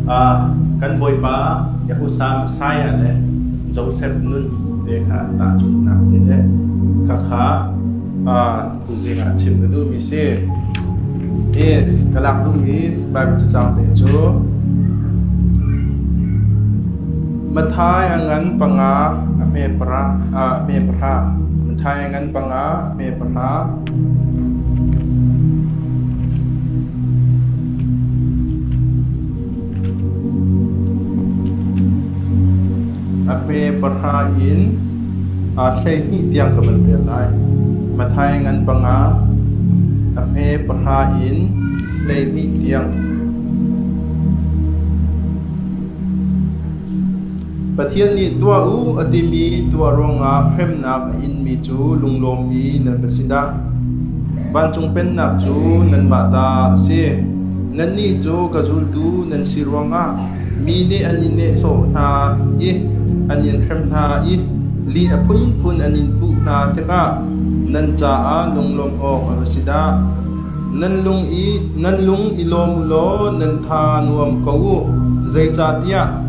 Kan bawipa Jehoshua Messiah le Josef nun te kha tahchunhnak te le khakha tuzing ah chim ka duhmi si. Hi ka lak duhmi Baibal cacang te cu Mathai a ngan panga a hme para a hme para Mathai a ngan panga a hme para A pe pahra in aa hleihnih tiang ka van vel lai. Mathaing an panga a pe pahra in hleihnih tiang. Pathian nih tuah u a timi tuah ruangah hremnak a inmi cu lunglawmmi nan va si dah! Vancung Pennak cu nanmah ta a si. Nannih cu ka zultu nan si ruangah mi nih an in nehsawh hna i an in hrem hna i li a phunphun an in puh hna tikah nan caah lunglawm awk a va si dah! Nan lung i lawm u law nan tha nuam ko u, zeicahtiah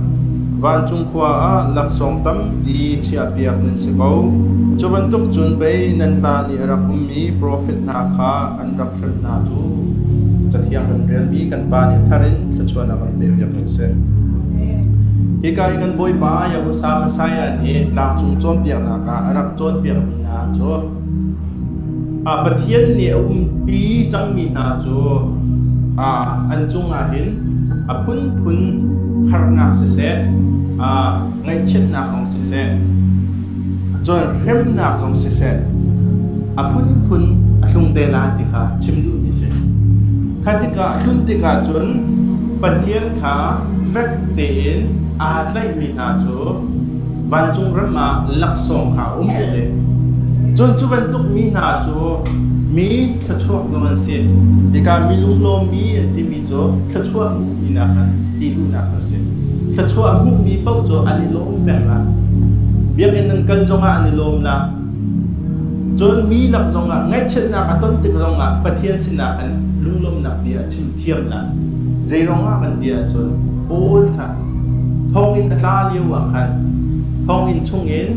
vancung khua ah laksawng tampi chiahpiak nan si ko. Cu bantuk cun pei nan ta nih a rak ummi profet hna kha an rak hralh hna cu Cathiang kan ṭialmi kan Pa nih thar in thluachuah a kan pehpiak ding a si. Hika i kan Bawipa Yahusha Messiah nih tlangcung cawnpiaknak ah a rak cawnpiakmi hna cu Pathian nih a umpi cangmi hna cu an cungah hin a phunphun harnak siseh, ngaihchiatnak zong siseh, cun hremnak zong siseh a phunphun a tlung te lai ti kha chim duhmi a si. Kha tikah a hlun tikah cun Pathian kha fek tein aa tlaihmi hna cu vancung ram ah laksawng hna um u le cun cu bantuk mi hna cu mi thluachuak nu an si hika mi lunglawmmi an timi cu thluachuah hmuhminak an ti duhnak an si thluachuah hmuhmi paoh cu an i lawm peng la biakinn nan kal zongah an i lawm la cun mi lak zongah ngaihchiatnak a ton tik zongah Pathian sinah khan lunglawmnak bia a chim thiamnak. Zeiruangah kan ti ahcun Paul kha thawngin a tla lio ah khan thawngin chungin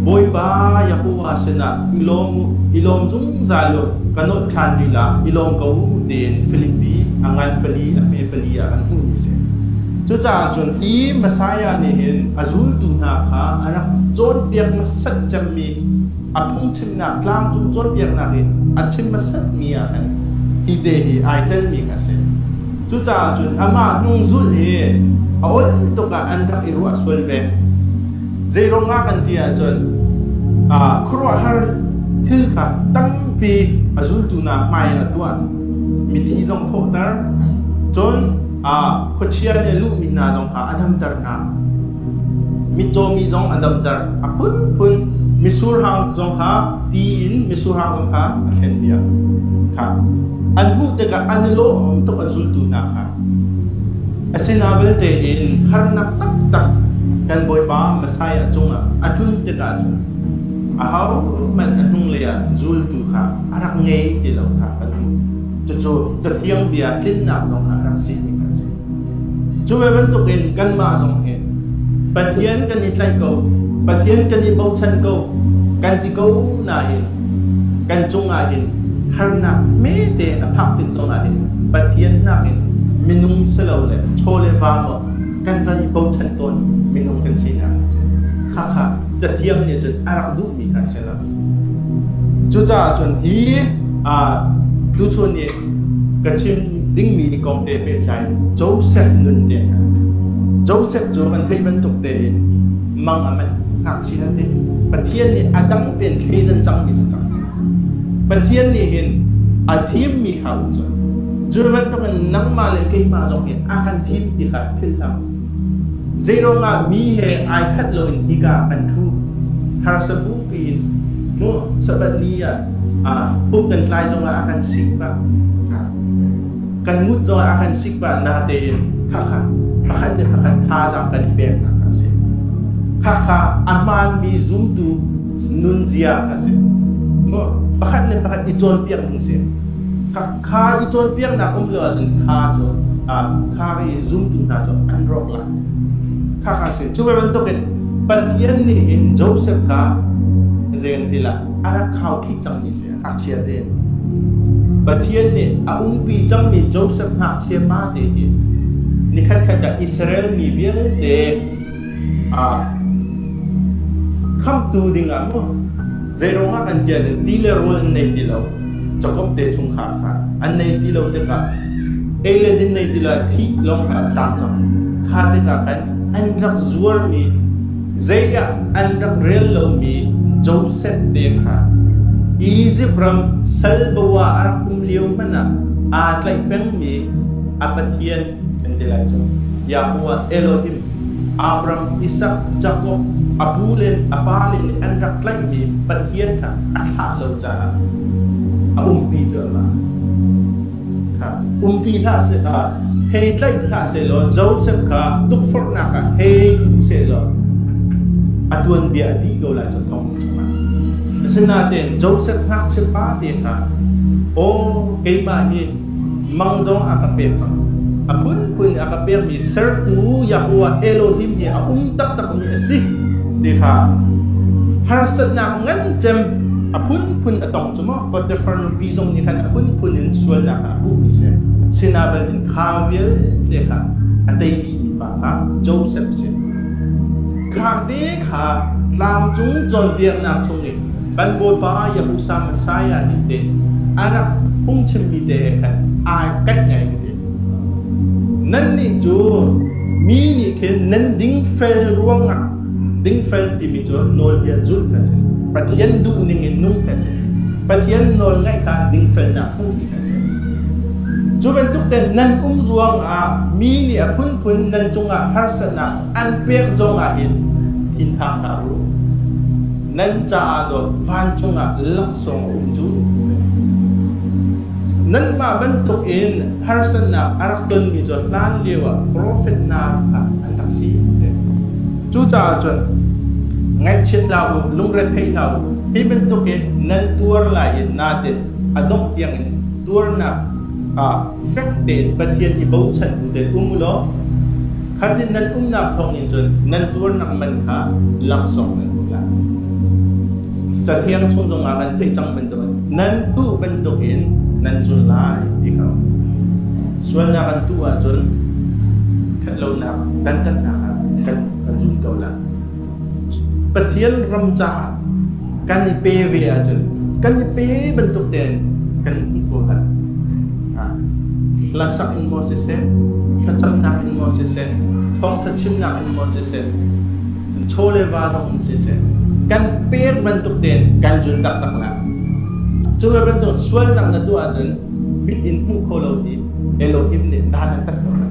Bawipa Yahuwah sinah i lawm u, i lawm zungzal u, ka nolh ṭhan lila i lawm ko u tiin Filipi a ngan pali a hme pali ah an hmuhmi a si. Cucaah cun hi Messiah nih hin a zultu hna kha a rak cawnpiak hmasat cemmi a phungchim Nak tlang cung cawnpiaknak in a chim hmasatmi ah khan hi te hi ai telmi kha a si. Cucaah cun amah hnung zulh hi a ol tuk ah an rak i ruah sual ve. Zeiruang ah kan ti ahcun ah khuaruahhar thil kha tampi a zultu nak hmai in a tuan. Mithi zong thawhter, cun ah khuachia le luhmi hna zong kha a damter hna. Mitcaw mi zong a damter a phunphun. Misurhang zong kha ti in misurhang zong kha a thlenpiak. Kha an hmuh tikah an i lawm tuk an zultu hna kha. A si na vialte in harnak taktak kan Bawipa Messiah cungah a tlun tikah cun a hohmanh a hnunglei ah zultu kha a rak ngei ti lo kha kan hmuh. Cucu Cathiang bia tlinnak zong kha a rak si mi kha a si. Cu ve bantukin kanmah zong hi Pathian kan i tlaih ko, Pathian kan i bochan ko kan ti ko nain kan cungah hin harnak hmete a phak tik zawn ah hin Pathian nakin minung si lo le chaw le va maw kan van i bochan tawn minung kan sinak cu. Khakha Cathiang nih cun a rak duhmi kha a si. Cucaah cun hi tuchun i ka chim dingmi kong te pehtlai Josef nun te Josef cu kan theih bantuk tein mang a manh ngakchia nan ti Pathian nih a dang tein thleidan cangmi si cang Pathian nih hin a thimmi kha u cun cu bantukin nangmah le keimah zong nih a kan thim ti kha philhlam Zeiruangah mi he ai khat loin hika kan ṭhu? Harsa bu piin mu Sabbath ni ah pumh kan tlai zongah a kan sik pah. Kan mut zongah a kan sik pah natein khakha pakhat le pakhat thazaang kan i pek hna kha a si. Khakha a hmaanmi zumtu nunzia kha a si. Pakhat le pakhat i cawnpiak ding si. Kha i cawnpiaknak um lio ahcun kha cu kha i zumtu hna cu an rawk lai. Kha kha si. Cu bantukin Pathian nih hin Joseph kha zeibantilah a rak khauthih cangmi si, ngakchia te. Pathian nih a umpi cangmi Joseph ngakchia pa te hi ni khatkhat ah Israel mi vialte Khamhtu dingah maw zeiruangah an tial i ti le rawl an nei ti lo cakom te chung kha kha an nei ti lo tikah ei le din nei ti lo thih lawng kha tlak cang kha tikah kan an rak zuarmi zeiah an rak rel lomi Joseph te kha Egypt ram salbawa a rak um lio hmanh ah aa tlaih pengmi a pathian an ti lai cu. Yahu ah Elohim, Abram, Isak, Jakob, a bu le a pale le an rak tlaihmi Pathian kha a thlah lo caah a umpi colh lai. Umpi hlah seh, hei tlaih hlah sehlaw Josef kha tukforhnak ah hei bu sehlaw a tuanbia dih ko lai cu thong chungah. Asinain Josef ngakchia pa te kha, aw keimah nih Mang zong a ka pek cang. A phunphun in a ka pekmi sertu Yahuwah Elohim hi a um taktakmi a si ti kha harsatnak ngan cem a phunphun a tong cu maw Potiphar nupi zong nih khan a phunphun in sualnak kha a hmuhmi si sinah in kha vialte kha a teimi pa kha Joseph si khang te kha tlangcung cawnpiaknak chung Kan Bawipa ya Musa Messiah nih teh a rak phungchimmi te khan ai kaih ngai ding nannih cu mi nih khin nan dingfel ruangah dingfel timi cu nawlbia zulh ka si Pathian duhning in nung ka si Pathian nawl ngaih kha dingfelnak hmuh ding ka si cu bantuk nan um ruangah mi nih a phunphun nan cungah harsatnak an pek zongah hin in hngak hna u. Nan caah dawt vancung ah laksawng a um cu. Nanmah bantuk in harsatnak a rak tonmi cu hlan lio ah profet hna kha an rak si. Cucaah cun ngaihchiat hlah u, lungre thei hlah u. Hi bantuk in nan tuar lai i natin a dongh tiangin tuarnak ah fek tein Pathian i bochan bu tein um u law kha ti nan umnak thawngin cun nan tuarnak man kha laksawng nan hmuh lai. Cathiang chung zongah an theih cang bantukin nan tuh bantukin nan cun lai ti kha sualnak an tuh ahcun ṭhatlonak dantatnak ah kan kan zum ko lai. Pathian ram caah kan i pe ve ahcun kan i pe bantuk tein kan hmuh ko hlah. Hlasak in maw siseh, thlacamnak in maw siseh, thawngtha chimnak in maw siseh, chawle va zong in siseh, kan pek bantuk tein kan zul taktak lai. Cu bantuk sualnak na tuah ahcun mit in hmuh kho lo hi Elohim nih dan an tat ko lai.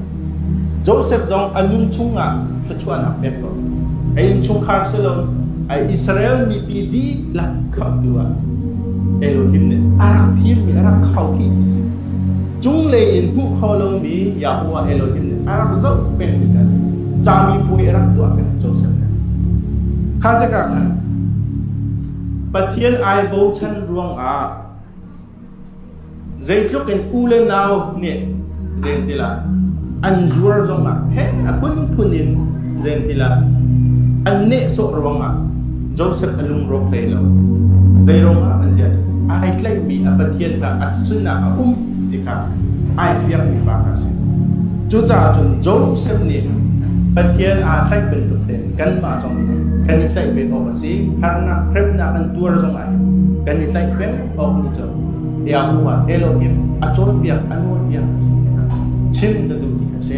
Josef zong a nun chungah thluachuahnak pek ko. A innchungkhar si lo, a Israel mipi dihlak khamhtu ah Elohim nih a rak thimmi, a rak khohmi a si. Cunglei in hmuh kho lomi Yahuwah Elohim nih a rak zoh pengmi kha a si. Cami puai a rak tuah peng Josef he. Kha tikah khan Pathian ai bochan ruangah Zeitluk in u le nau nih zeintil ah an zuar zongah heh a phunphun in zeintil ah an nehsawh ruangah Josef a lungrawk hlei lo. Zeiruangah an ziah cu ai tlaihmi a Pathian kha a sinah a um ti kha ai fiangmi pa kha a si. Cucaah cun Josef nih Pathian aa tlaih bantuk hin kanmah zong kan i tlaih ve awk a si. Harnak hremnak an tuar zongah hin kan i tlaih peng. thawng nih cun biaknu ah elaw in a cawnpiak a nawlpiak a si tikah chim ka duhmi a si.